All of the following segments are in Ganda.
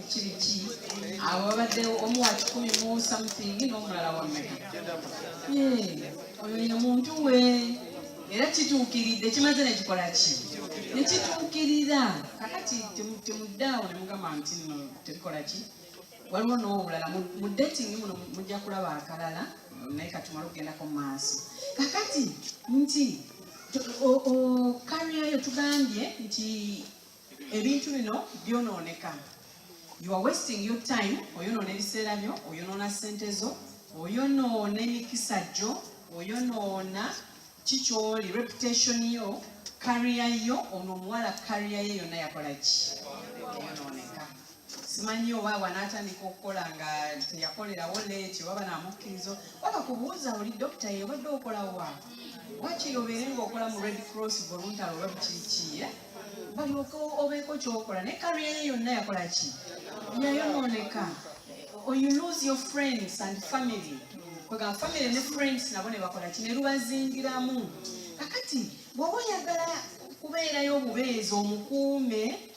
kiri ki awo babaddewo omu wa kikumi mu something n'omulala wa mmeka oyo ye muntu we era kituukiridde kimaze nekikola ki nekituukirira kakati temuddaawo ne mugamba nti no tebikola ki waliwo n'obulala mu dating muno mujja kulaba akalala naye katumala okugendako mu maaso kakati nti kariyayo tugambye nti ebintu bino byonooneka you are wasting your time oyonoona ebiseera byo oyonoona sente zo oyonoona emikisa gyo oyonoona kikyoli reputation yo kariya yo ono omuwala kariya ye yonna yakola ki simanyi oba bwanaatandika okukola nga teyakolerawo leeti oba banamukkirizo waba kubuuza oli dokita ye obadde okolawa wakiri obeere ngaokola mu red cross voluntary oba bikiki eh? balyoka obeeko kyokola naye kariya ye yonna yakola ki yayonooneka or you lose your friends and family kwegamba family ne friends nabo ne bakola ki ne lubazingiramu kakati bwoba oyagala kubeerayo obubeezi omukuume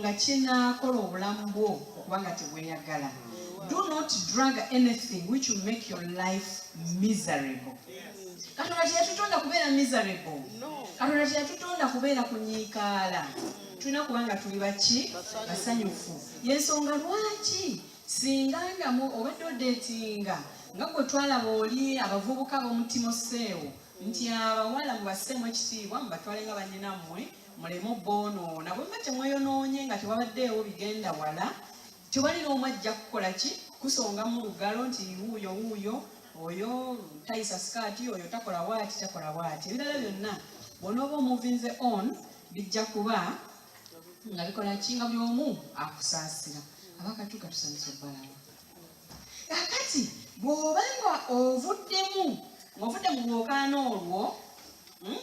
nga kinaakola obulamu bwo okuba nga tebweyagala do not drug anything which will make your life miserable katonda teyatutonda kubeera miserable katonda teyatutonda kubeera kunyiikaala tulina kuba nga tuli baki basanyufu yensonga lwaki singa ndamu obadde odeetinga nga gwe twalaba oli abavubuka b'omutima osseewo nti abawala mubaseemu ekitiibwa mubatwale nga banyinammwe muleme oboonoona bwe muba temweyonoonye nga tewabaddeewo bigenda wala tewali n'omu ajja kukola ki kusongamu lugalo nti wuuyo wuuyo oyo tayisa sikaati oyo takola waati takola waati ebirala byonna bwonooba omuvinze on bijja kuba nga bikola ki nga buli omu akusaasira abakatuka tusanyusa obbalawo kakati bw'oba nga ovuddemu ng'ovudde mu lwokaano olwo hmm?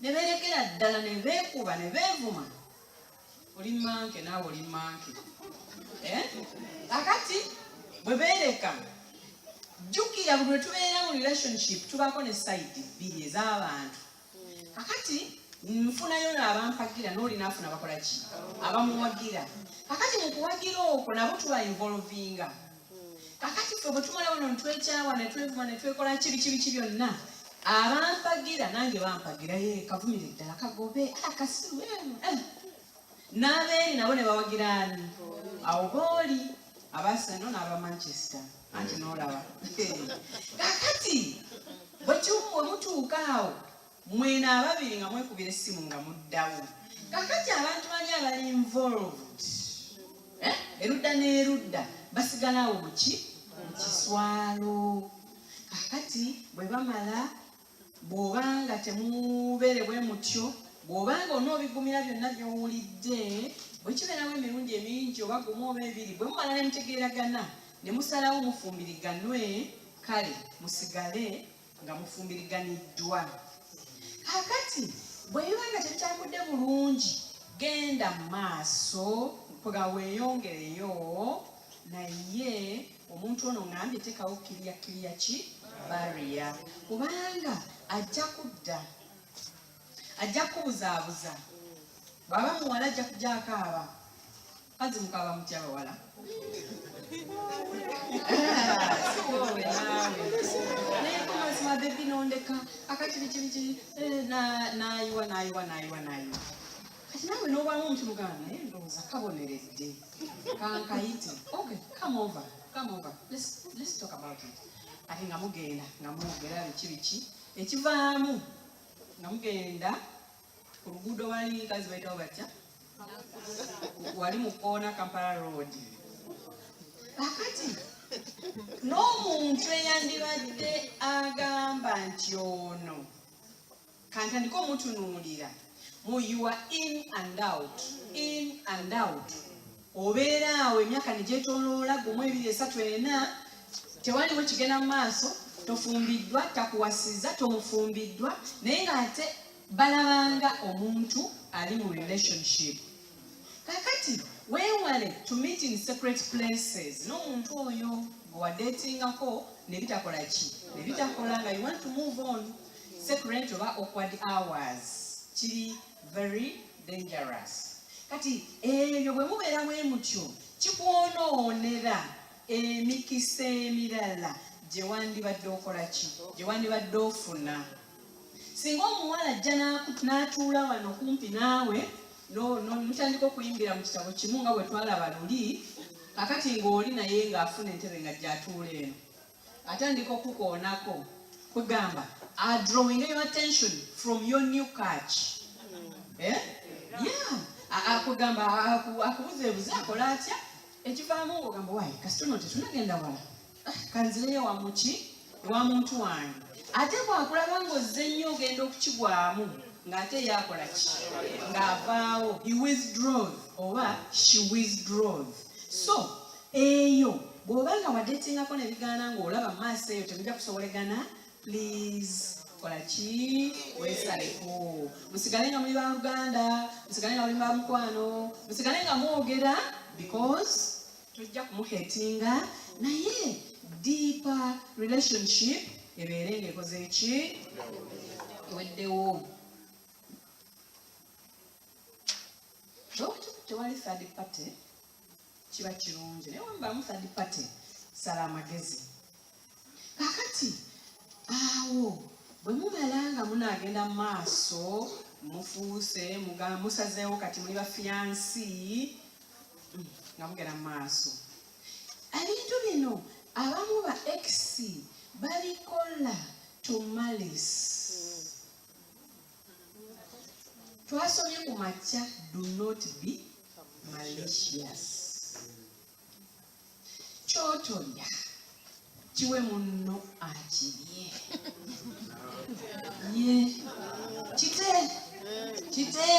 ne beerekera ddala ne beekuba ne beevuma oli manke naawe oli manke eh? akati bwe beereka jjukira buli lwetubeera mu relationship tubaako ne sayidi bbiri ez'abantu akati nfunayo naabampagira nooli naafuna bakola ki abamuwagira akati mu kuwagira okwo nabo tuba involvinga kakati ffe bwe tumalawo no netwekyawa netwevuma netwekola kibi kibi ki byonna abampagira nange bampagira ye kavumire ddala kagobe akasiru ah, eno eh. n'abeeri nabo ne bawagira ani awo booli abaseno n'aba manchester anti n'olaba kakati bwe kimu bwe mutuuka awo Mwena ababiri nga mwekubira essimu nga muddawo. Kakati abantu bali abali involved eh? erudda n'erudda basigala awo muki mu kiswalo. Kakati bwe bamala bw'oba nga temubeere bwe mutyo bw'oba nga onoobigumira byonna by'owulidde bwe kibeerawo emirundi emingi oba gumu oba ebiri bwe mumala ne mutegeeragana ne musalawo mufumbiriganwe kale musigale nga mufumbiriganiddwa kakati bwe biba nga tetutambudde bulungi genda mu maaso nga weeyongereyo naye omuntu ono ngambye tekawo kiriya kiriya ki bariya kubanga ajja kudda ajja kukubuzaabuza bwaba muwala ajja kujakaaba Kazi mukaba mutya abawala? mabebi nondeka akati bikibiki eh, nayiwa nayiwa nayiwa nayiwa kati nawe nobamu omuntu mugana naye eh, ndowooza kaboneredde kankayite okay come over come over let's, let's talk about it ate nga mugenda nga mwogera biki biki ekivaamu nga mugenda oluguudo wali kazi bayitawo batya wali mu koona kampala road akati n'omuntu eyandibadde agamba nti ono kantandika omutunuulira mu you are in and out in and out Obeera awo emyaka ne gyetooloola gumu, ebiri, esatu, ena, tewaliwo kigenda mu maaso, tofumbiddwa, takuwasizza, tomufumbiddwa, naye ng'ate balabanga omuntu ali mu relationship. Kakati weewale to meet in separate places n'omuntu oyo gwe wadeetingako ne bitakola ki ne bitakola nga you want to move on separate oba awkward hours kiri very dangerous kati ebyo bwe mubeera bwe mutyo kikwonoonera emikisa emirala gye wandibadde okola ki gye wandibadde ofuna singa omuwala ajja n'atuula wano kumpi naawe mutandika okuyimbira mu kitabo kimu nga bwe twalaba luli kakati ng'oli naye ng'afuna entebe nga gyatuula eno atandika okukukoonako kwegamba adrawing your attention from your new catch eh? yeah. akugamba akubuzeebuze akola atya ekivaamu ogamba wayi kasitono tetunagenda wala ah, kanzireyo wamuki ewa muntu wange ate bwakulaba ngaozze nnyo ogenda okukigwamu ng'ate yakola ki ng'avaawo he withdraws oba she withdraws so Eyo bwoba nga wadetingako nebigaana nga olaba mu maaso eyo temuja kusobolegana please kola ki wesaleko musigale nga muli baluganda musigale nga muli bamukwano musigale nga mwogera because tojja kumuhetinga naye deeper relationship ebeere nga ekoze ki eweddewo tewali third party kiba kirungi naye wamubamu third party sala amagezi kakati awo bwe mumala nga munaagenda mu maaso mufuuse musazeewo kati muli bafiyansi mm, nga mugenda mu maaso ebintu bino abamu ba x babikola to malice twasomye ku makya do not be malicious kyotolya kiwe munno akirye ye kite kite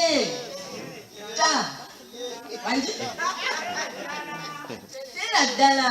ta tera ddala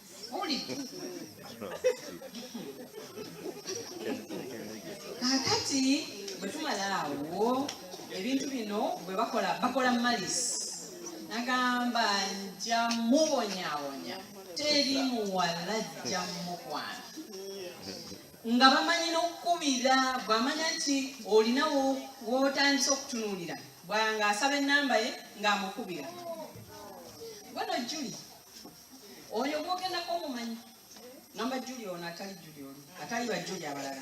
kakati bwe tumala awo ebintu bino bwe bakola bakola malisi nagamba nja mubonyabonya teri muwala jja mukwana nga bamanyi n'okukubira bwamanya nti olina wotandisa okutunuulira bwanga asaba enamba ye ng'amukubira gweno juli oyo gwogendako omumanyi namba juli ono atali juli ono atali bajuli abalala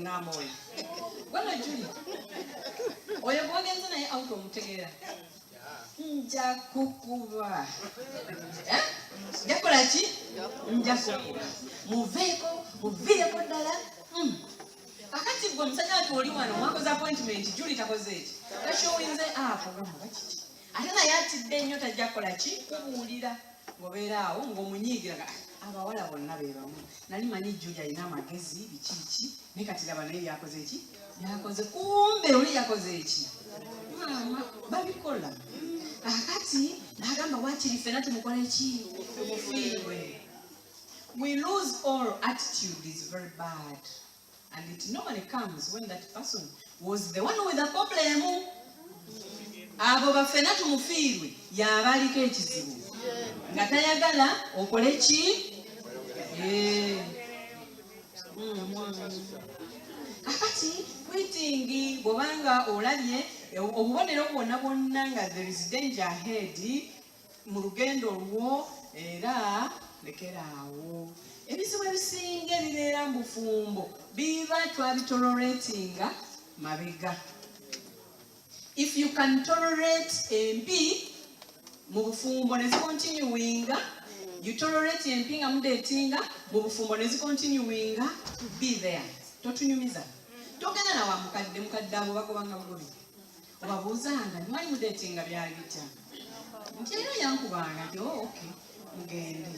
ngamba oyo gweno juli oyo gwogenze naye out omutegeera nja kukuba eh? nja kukola ki nja kukuba muveeko muviireko ddala hmm. akati gwe omusajja watu oli wano mwakoze appointment juli takoze eki ekyo oyinze apo ah, gamba kiki ate naye atidde nnyo tajja kukola ki kubuulira ngobeera awo ngaomunyiigira ah, abawala bonna bebamu nali manyi juli alina amagezi bikiiki ne kati laba naye byakoze ki byakoze kumbe oli yakoze ki maama babikola akati nagamba wakiri fena tumukole ki tumufiirwe we lose all attitude is very bad And it normally comes when that person was the one with a problem. Abo bafena tumufiirwe yabaliko ekizibu nga tayagala okole ki eh. hmm, kakati kwitingi bwobanga olabye obubonero bwona bwonna nga there is danger ahead mu lugendo olwo era lekeraawo ebizibu ebisinga ebibeera mu bufumbo biba twabitoloretinga mabega if you can tolerate empi mu bufumbo nezikontinuwinga you tolerate empi nga mudetinga mu bufumbo nezikontinuwinga be there totunyumiza togenda nawa mukadde mukadde abo bakubanga bugubi obabuuzanga mwali mudetinga byali bitya nti era yankubanga nti oh, ok mugende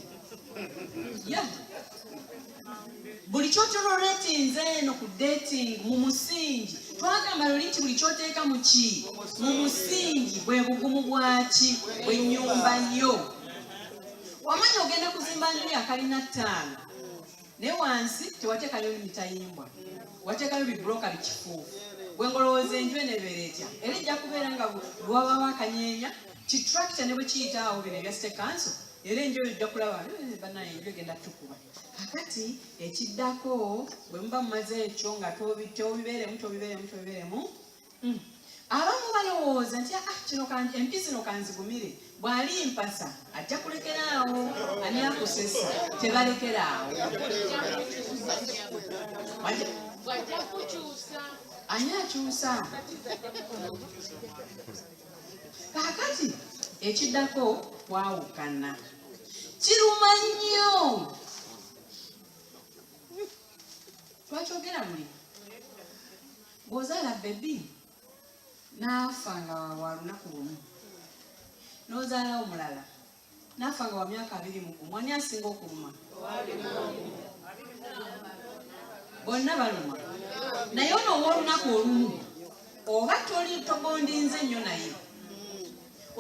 ya buli kyotoloretinze eno ku dating mu musingi twagamba luli nti buli kyoteeka mu ki mu musingi bwe bugumu bwaki bwenyumba yo wamanya ogenda kuzimba nju yakalina ttaano naye wansi tewatekayo mitayimbwa watekayo bibuloka bikifuufu bwengolowooza enju eno ebeera etya era ejja kubeera nga lwabawo akanyeenya kitrakita ne bwe kiyitaawo bino ebya state council era enju eyo ojja kulaba eh, banaye enju egenda tukuba kakati ekiddako bwe muba mumaze ekyo nga tobibeeremu tobibeeremu tobibeeremu mm. abamu balowooza nti ah, kino empi zino kanzigumire bw'ali mpasa ajja kulekera awo ani akusesa tebalekera awo ani akyusa kaakati ekiddako kwawukana kiruma nnyo twakyogera buli Bw'ozaala bbebi n'afa nga wa lunaku lumu, n'ozaala omulala n'afa nga wa myaka abiri mu gumu, ani asinga okuluma? Bonna baluma. Naye ono ow'olunaku olumu oba toli togondinze nnyo naye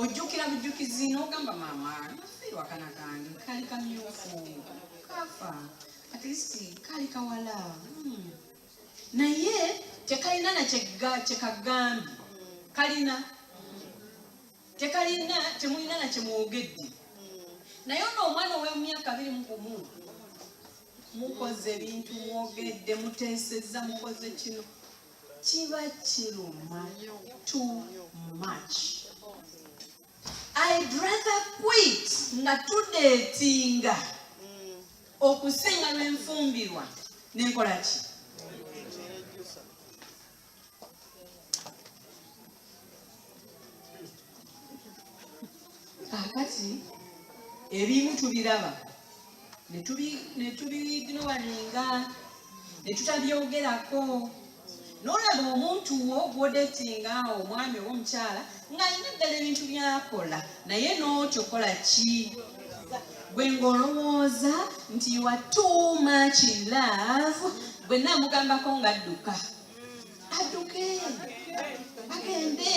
ojjukira bujjukizi n'ogamba maama wakana kange kali kamyufu kafa at least kali kawala hmm. naye tekalina nakyekagambye kalina tekalina temulina nakyemwogedde naye ono omwana owemyaka abiri mugumu mukoze ebintu mwogedde muteseza mukoze kino kiba kiruma too much I'd rather quit nga tudeetinga okusinga lwenfumbirwa nenkola ki kakati ebimu tubiraba ne tubiignowalinga ne tutabyogerako n'olaba omuntu wo gwodetinga omwami oba omukyala ng'alina ddala ebintu byakola naye n'otyo kola ki gwe ng'olowooza nti wa too much love gwe naamugambako ng'adduka adduke agende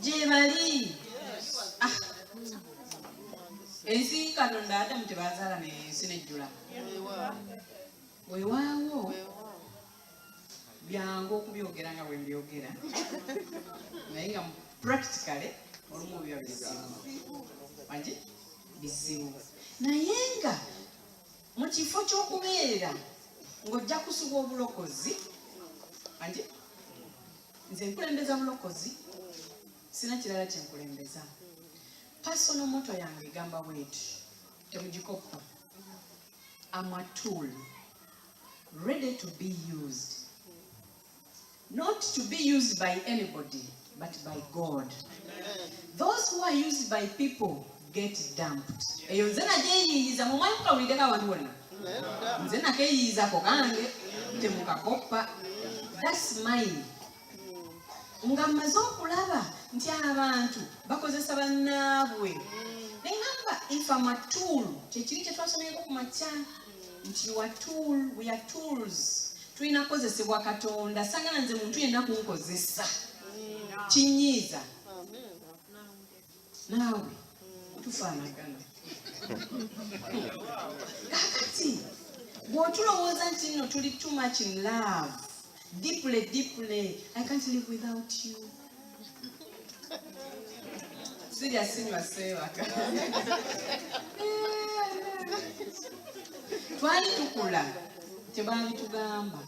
gyebali ensi katonda adamu tebazaala naye ensi nejjula wewaawo byangu okubyogera nga bwembyogera naye nga practically olumu biba bizibu agi bizibu naye nga mu kifo ky'okubeera ng'ojja kusubwa obulokozi agi nze nkulembeza bulokozi sina kirala kye nkulembeza pasono moto yange egamba bweti temugikoppa amatool ready to be used not to be used by anybody but by god Amen. those who are used by people get dumped eyo nze najeyiyiza mumwanyi kukawulideko abantu bonna nze nakeyiyiza ko kange temukakoppa that's mine nga mmaze okulaba nti abantu bakozesa bannaabwe naye ngamba if am a tool kyekiri kye twasomyeko ku makya nti wa tool we are tools tulina kukozesebwa katonda sangana nze muntu yenna kunkozesa kinyiiza naawe tufaanagana kakati bw'otulowooza nti nno tuli too much in love deeply deeply i can't live without you sirya sinywa seebaka twali tukula tebaabitugamba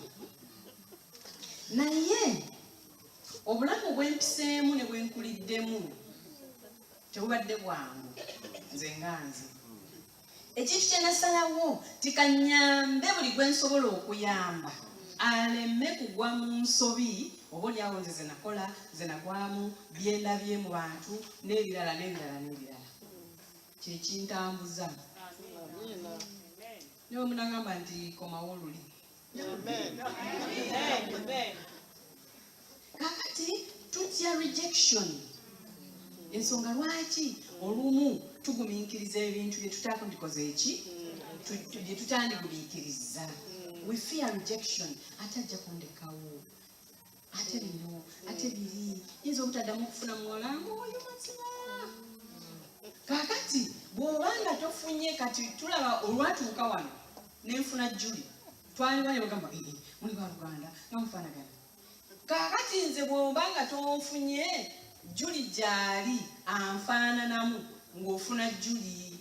naye obulamu bwempiseemu ne bwenkuliddemu tebubadde bwangu nze nga nze ekintu kyenasalawo tikanyambe buli gwensobola okuyamba aleme kugwa mu nsobi oba olyawo nze zenakola zenagwamu byendabye mu bantu n'ebirala n'ebirala n'ebirala kyekintambuza niwe munagamba nti komawo luli kakati tutya rejection ensonga lwaki olumu tugumiikiriza ebintu byetutandikoze eki byetutandigumiikiriza we fear rejection ate ajja kundekawo ate bino ate biri yinza obutaddamu okufuna muwala ngaoyo mazima kakati bwoba nga tofunye kati tulaba olwatuuka wano nenfuna juli twaliwa nebagamba ee eh, eh, muli ba luganda nga mufanagana kakati nze bwoba nga tonfunye juli gyali anfaananamu ng'ofuna juli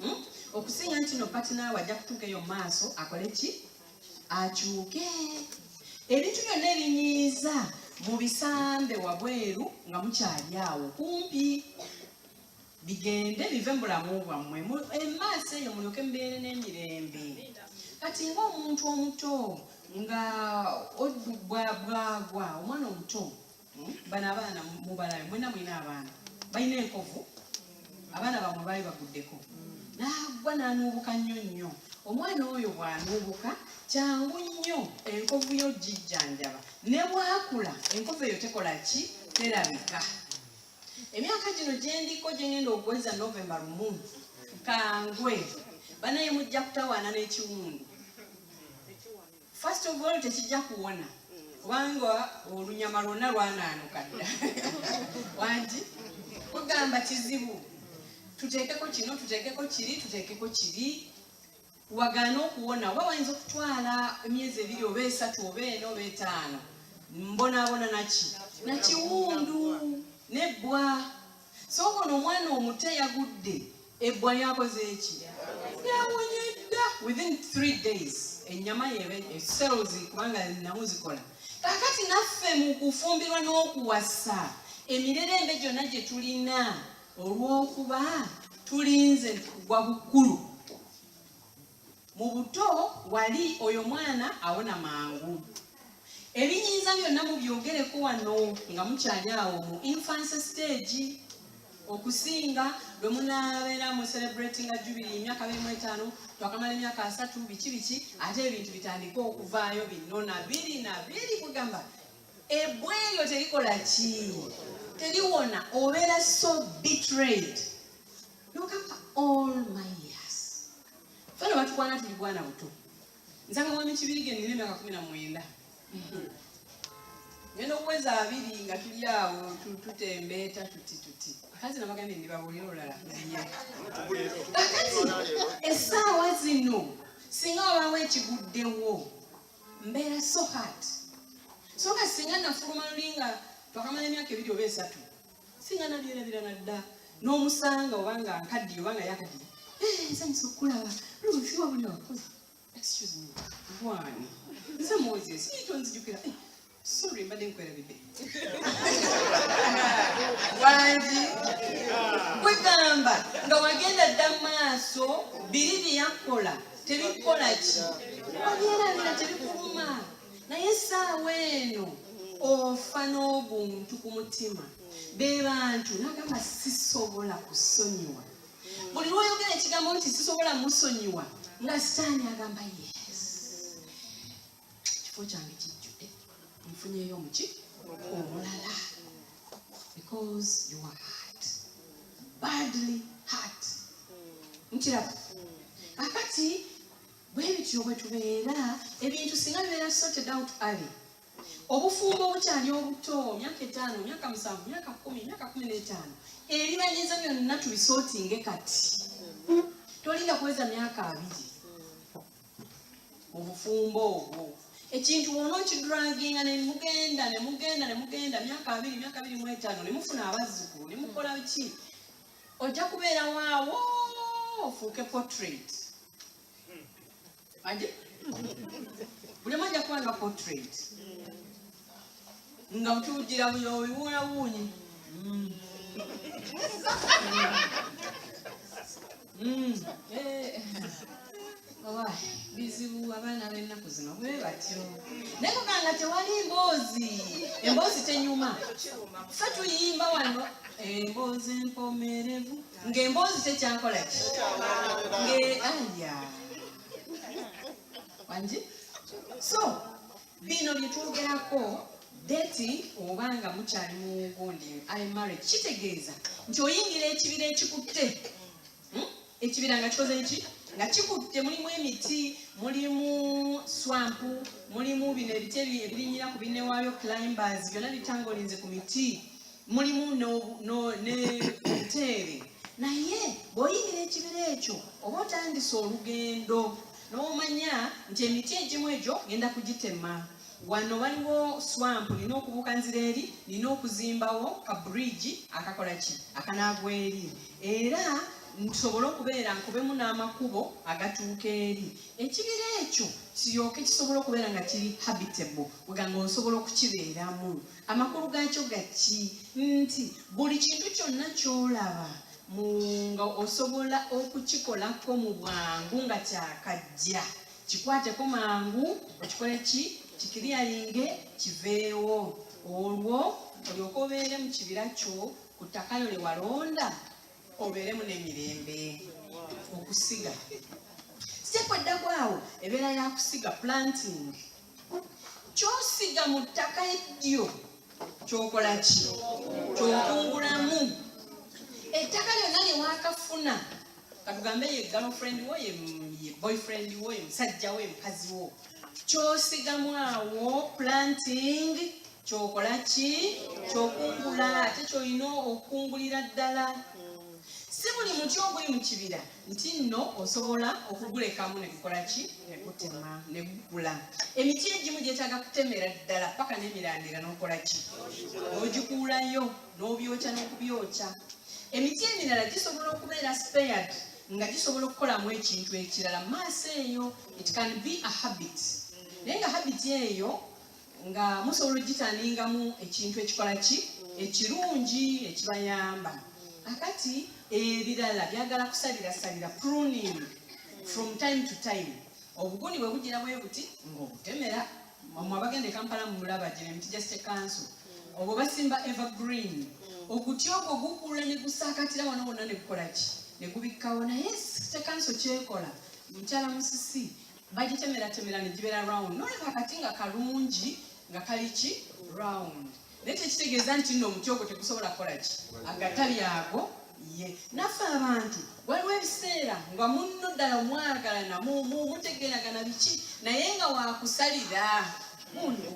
hmm? okusinga nti no patinaawe ajja kutuuka eyo maaso akole ki akyuke ebintu byonna ebinyiiza mu bisambe wabweru nga mukyali awo kumpi bigende bive mu bulamu bwammwe emaaso eyo mulyoke mubeere n'emirembe kati ngaomuntu omuto nga bwagwa omwana omuto bano abaana mubalabe mwena mwina abaana balina enkovu abaana bamwe baali baguddeko naagwa nanuubuka nnyo nnyo omwana oyo bwanuubuka kyangu nnyo enkovu yo gijjanjaba ne bwakula enkovu eyo tekola ki terabika emyaka gino gyendiko gyengenda okuweza novemba lumu kangwe banaye mujja kutawaana n'ekiwundu First of all tekijja kuwona kubanga olunyama lwonna lwanaanuka dda wangi kugamba kizibu tuteekeko kino tuteekeko kiri tuteekeko kiri wagaana okuwona oba wayinza okutwala emyezi ebiri oba esatu oba ena oba etaano mbonaabona naki nakiwundu nebbwa sooka ono omwana omuto yagudde ebbwa lyakoze eki yawonye dda within three days ennyama yebe cells kubanga namu zikola kakati naffe mu kufumbirwa n'okuwasa emirerembe gyonna gye tulina olw'okuba tulinze kugwa bukulu mu buto wali oyo mwana awona mangu ebinyinza byonna mubyogereko wano nga mukyali awo mu infancy stage okusinga lwe munabeera mu celebratinga jubiri emyaka birimu etaano twakamala emyaka asatu biki biki ate ebintu bitandike okuvaayo binona biri na biri kugamba ebwa eryo terikola ki teriwona obeera so betrayed nogamba all my years fena batukwana tuli bwana buto nzanga mwami kibirige nina emyaka kumi na mwenda ngenda okuweza abiri nga tuli awo tutembeeta tuti tuti kati nabagambye ndibabuulira olulala kakati essaawa zino singa wabaawo ekiguddewo mbeera so hat so nga singa nafuluma lulinga twakamala emyaka ebiri oba esatu singa nabyerabira nadda n'omusanga oba nga nkaddiye oba nga yakaddiye eh, nsanyusa okukulaba luusi wabuli wakozi excuse me bwani nze moses yekyo nzijukira eh, sorry mbadde nkwerabidde wangi kwegamba nga wagenda dda maaso biri byeyakukola tebikukola ki obyerabira tebikuluma naye essaawa eno ofa n'obuntu ku mutima be bantu nagamba sisobola kusonyiwa buli lwoyogera ekigambo nti sisobola musonyiwa nga sitaani agamba yes ekifo kyange kijjudde nfunyeyo omuki omulala because you are hurt badly hurt nkiraba kakati bwe bityo bwe tubeera ebintu singa bibeera sorted out early obufumbo obukyali obuto myaka etaano myaka musanvu myaka kumi myaka kumi n'etaano ebibanyiza byonna tubisotinge kati tolinda kuweza myaka abiri mu bufumbo obwo ekintu wona okidraginga nemugenda nemugenda nemugenda myaka abiri myaka abiri mu etaano nemufuna abazzukulu nemukola ki ojja kubeerawaawo ofuuke portrait aje bulema ajja kuba nga portrait nga butuwujira buyo biwuula wuunyi mm. mm. eh. oba bizibu abaana b'ennaku zino bwe batyo naye kuganga tewali mboozi emboozi tenyuma fe tuyimba wano emboozi empomerevu ng'emboozi kyekyakola ki ng'aya wangi so bino byetwogerako deti oba nga mukyali mugundi ali marriage kitegeeza nti oyingira ekibira ekikutte hmm? ekibira nga kikoze ki nga kikutte mulimu emiti mulimu swampu mulimu bino ebiti ebirinyira ku binewaayo climbers byonna bitangolinze ku miti mulimu n'obuteere naye bw'oyingira ekibira ekyo oba otandise olugendo n'omanya nti emiti egimu egyo ngenda kugitema wano waliwo swamp nina okubuuka nzira eri nina okuzimbawo ka bridge akakola ki akanaagwa eri era nsobole okubeera nkubemu n'amakubo agatuuka eri ekibira ekyo kiryoke kisobole okubeera nga kiri habitable weganga osobola okukibeeramu amakulu gaakyo gaki nti buli kintu kyonna kyolaba nga osobola okukikolako mu bwangu nga kyakajja kikwateko mangu okikole ki kikiriyayinge kiveewo olwo olyoka obeere mu kibira kyo ku ttaka lyo lye walonda obeeremu n'emirembe okusiga sitepu eddako awo ebeera yakusiga planting kyosiga mu ttaka eddyo kyokola ki kyokungulamu ettaka lyonna lyewakafuna katugambe ye girlfriend wo ye boyfriend wo ye musajja wo ye mukazi wo kyosigamu awo planting kyokola ki kyokungula ate kyolina okukungulira ddala si buli muti oguli mu kibira nti nno osobola okugulekamu negukola ki negutema negukula emiti egimu gyetaaga kutemera ddala paka nemirandira nokola ki ogikuulayo nobyokya nokubyokya emiti emirala gisobola okubeera spared nga gisobola okukolamu ekintu ekirala maaso eyo it can be a habit naye nga habit eyo nga musobola okugitaningamu ekintu ekikola ki ekirungi ekibayamba akati ebirala byagala kusalirasalira pruning from time to time obuguni bwe bugira bwe buti ng'obutemera mwe abagenda ekampala mumulaba gino emiti gya state council obwo basimba evergreen oguti ogwo gukula ne gusaakatira wano wonna ne gukola ki ne gubikkawo naye state council kyekola mukyala musisi bagitemeeratemera ne gibeera round naye kakati nga kalungi nga kali ki round naye tekitegeeza nti nno omuti ogwo tegusobola kukola ki agatabi ago ye naffe abantu waliwo ebiseera nga munno ddala omwagalana mutegeragana biki naye nga wakusalira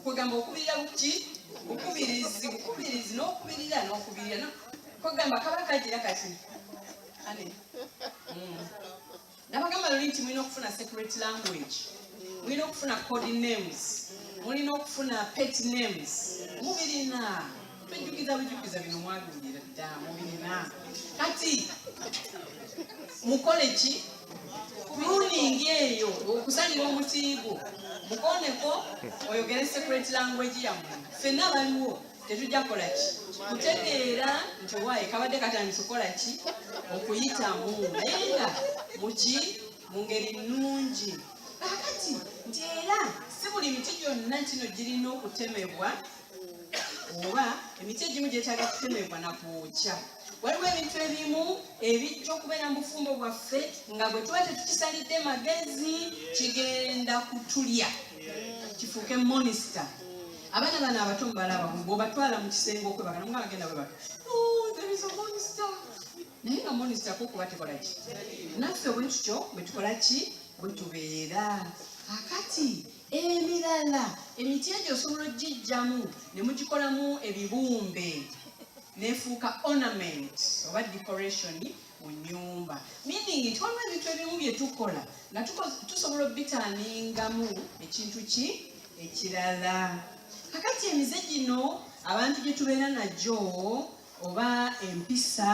kwegamba okubirira buki bukubirizi bukubirizi n'okubirira n'okubirira kwegamba kaba kagira kati ane hmm. nabagamba luli nti mulina okufuna secret language mulina okufuna code names mulina okufuna pet names mubirina tujjukiza bujjukiza bino mwabiwulira dda mubirina kati mukole ki runingi eyo okusalira omutiigo mukoneko oyogere secret language yammwe fenna baliwo tetujja kukola ki kutegeera nti owaaye kabadde katandisa okukola ki okuyitamu naye nga muki mu ngeri nnungi kakati nti era si buli miti gyonna kino girina okutemebwa oba emiti egimu gyetaaga kutemebwa na kwokya waliwo ebintu ebimu ebijja okubeera mu bufumbo bwaffe nga bwe tuba tetukisalidde magezi kigenda kutulya kifuuke monisita abaana bano abato mubalaba bwobatwala mu kisenge okwebaka namuga bagenda bwebaka oh, naye nga monisita kukuba tekola ki naffe bwe tutyo bwe tukola ki bwe tubeera akati emirala emiti egyo osobola ogijjamu ne mugikolamu ebibumbe nefuuka ornament oba decoration mu nyumba mini nti waliwo ebintu ebimu bye tukola nga tusobola obitaaningamu ekintu ki ekirala kakati emize gino abantu gye tubeera nagyo oba empisa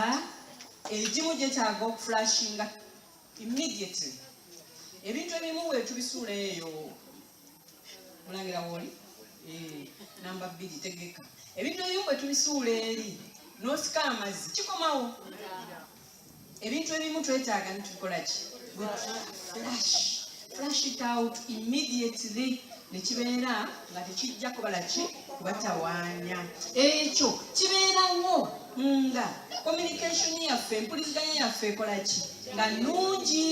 egimu gyetaaga okufulashinga immediately ebintu ebimu wetubisuula eyo mulangira woli eh, namba bbiri tegeka ebintu ebyo bwe tubisuula eri n'osika amazzi kikomawo ebintu ebimu twetaaga nitubikola ki flash flash it out immediately nekibeera nga tekijja kubala ki kubatawaanya ekyo kibeerawo nga communication yaffe empuliziganya yaffe ekolaki nga nungi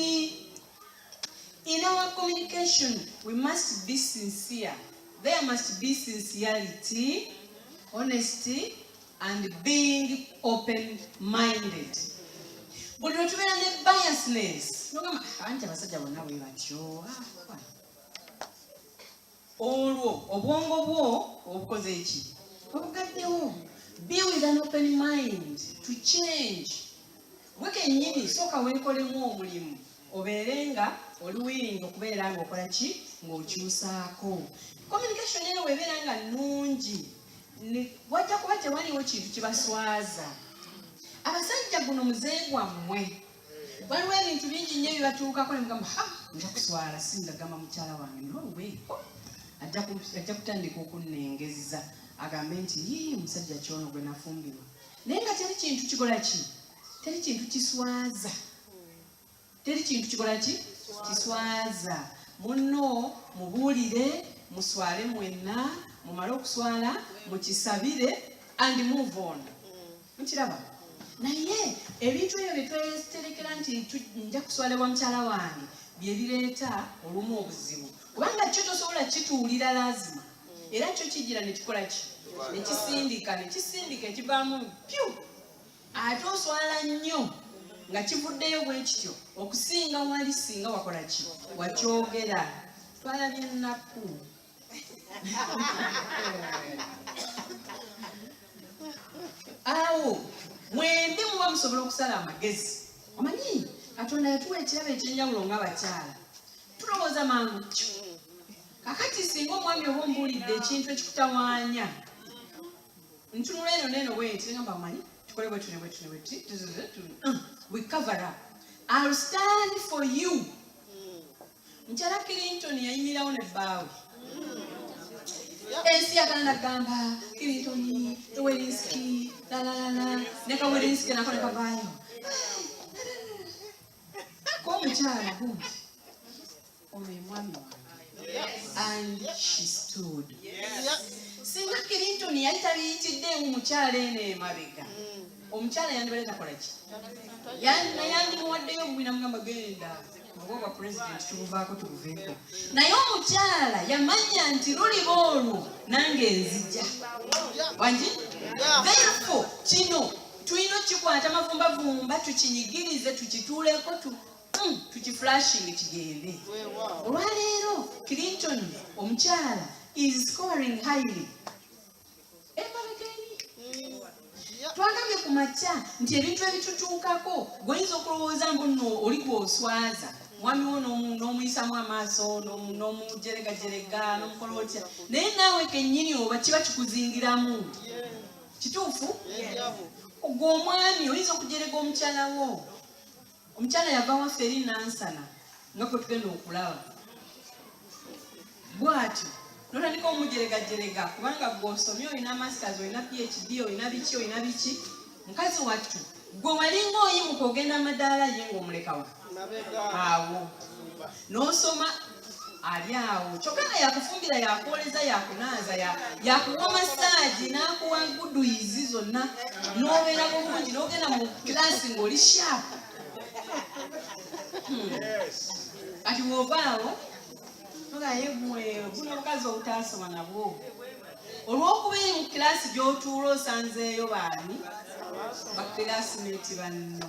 In our communication, we must be sincere. There must be sincerity, honesty, and being open-minded. Buli lwe tubeera ne biasness, nogamba anti abasajja bonna bwe batyo. Ah, olwo obwongo bwo obukoze eki obugaddewo be with an open mind to change gwe kenyini sooka weekolemu omulimu obeere nga oli wiringi okubeera nga okola ki ng'okyusaako communication eno weebeera nga nnungi wajja kuba tewaliwo kintu kibaswaza abasajja guno muze gwammwe waliwo ebintu bingi nnyo ebibatuukako ne mugamba ha nja kuswala singa gamba mukyala wange nowe ajja kutandika okunnengezza agambe nti yii omusajja kyono gwe nafumbirwa naye nga teri kintu kikola ki teri kintu kiswaza teri kintu kikola ki kiswaza munno mubuulire muswale mwenna mumale okuswala mukisabire and move on mukiraba naye ebintu ebyo byetweterekera nti nja kuswala wa mukyala wange byebireeta olumu obuzibu kubanga kyo tosobola kituwulira lazima era kyo kijira nekikola ki nekisindika nekisindika ekivaamu pyu ate oswala nnyo nga kivuddeyo bwe kityo okusinga wali singa wakola ki wakyogera twalabye ennaku awo mwendi muba musobola okusala amagezi omanyi katonda yatuwa ekirabo ekyenjawulo nga bakyala tulowooza mangu kakati singa omwami oba ombuulidde ekintu ekikutawaanya ntunula eno neeno bwenti namba manyi tukole bwetune bwetune bweti we cover up I'll stand for you Mukyala Clinton yayimirawo ne bbaawe ensi yagala nagamba Clinton Werinski lalalala ne ka Werinski nako ne kavaayo ko omukyala good oyo emwami wange and she stood singa Clinton yali tabiyitidde mu mukyala eno emabega omukyala yandibadde takola ki yandimuwaddeyo gwina mugamba genda obwobwa pulezidenti tubuvaako tubuveeko naye omukyala yamanya nti luliba olwo nange nzija wagi therefo kino tulina okikwata mavumbavumba tukinyigirize tukituuleko hmm, tukiflashingi kigende olwaleero clinton omukyala is scoring highly twagambye ku makya nti ebintu ebitutuukako gweoyinza okulowooza mbu nno oli gwoswaza mwami wo n'omuyisamu amaaso n'omujeregajerega n'omukola otya naye naawe kennyini oba kiba kikuzingiramu kituufu ogwo omwami oyinza okujerega omukyala wo omukyala yava waffe eri nansana nga gwe tugenda okulaba bwati notandika omujeregajerega kubanga gwe osomye olina masters olina phd olina biki olina biki mukazi wattu gwe walinga oyimuka ogenda madaala ye ngaomulekawa awo nosoma ali awo kyokka nga yakufumbira yakwoleza yakunaaza yakuwa masaagi n'akuwa guduyizi zonna n'obeera mu bulungi n'ogenda mu kilaasi ng'oli shaapu hmm. kati bw'ova awo nogaye mwe buno obukazi obutaasoma nabwo olw'okuba eri mu kilaasi gy'otuula osanzeeyo baani bakirasimenti banno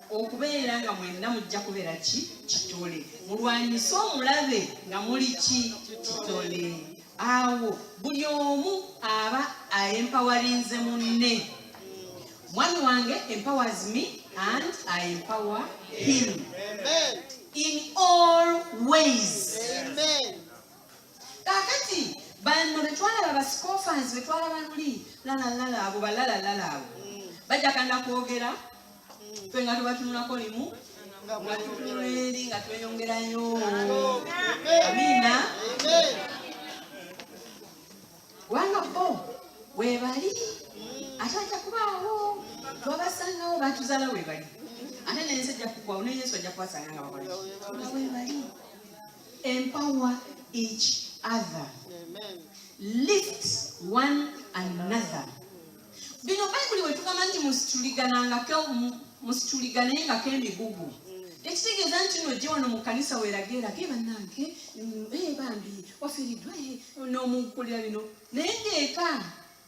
okubeera nga mwenna mujja kubeera ki kitole mulwanyise omulabe nga muli ki kitole awo buli omu aba aempawarinze munne mwami wange empowers me and i empower him in all ways Amen. kakati banno betwalaba basikofansi betwalaba luli lalalala abo balalalala abo bajakana kwogera fe nga tubatunulako limu nga tutunula eri nga tweyongerayo amina kubanga bo webali ate ajja kubaawo twabasangawo batuzala webali ate nensi ajja kugwawo ne yesu ajja kubasanga nga bakolaki nga webali empower each other lift one another bino bayibuli wetugamba nti musituliganangako musituliganengako emigugu ekitegeeza nti no ojje wano mu kanisa weerage erage bannange mm, eh, bambi wafiiriddwa eh, n'omukulira bino naye ngaeka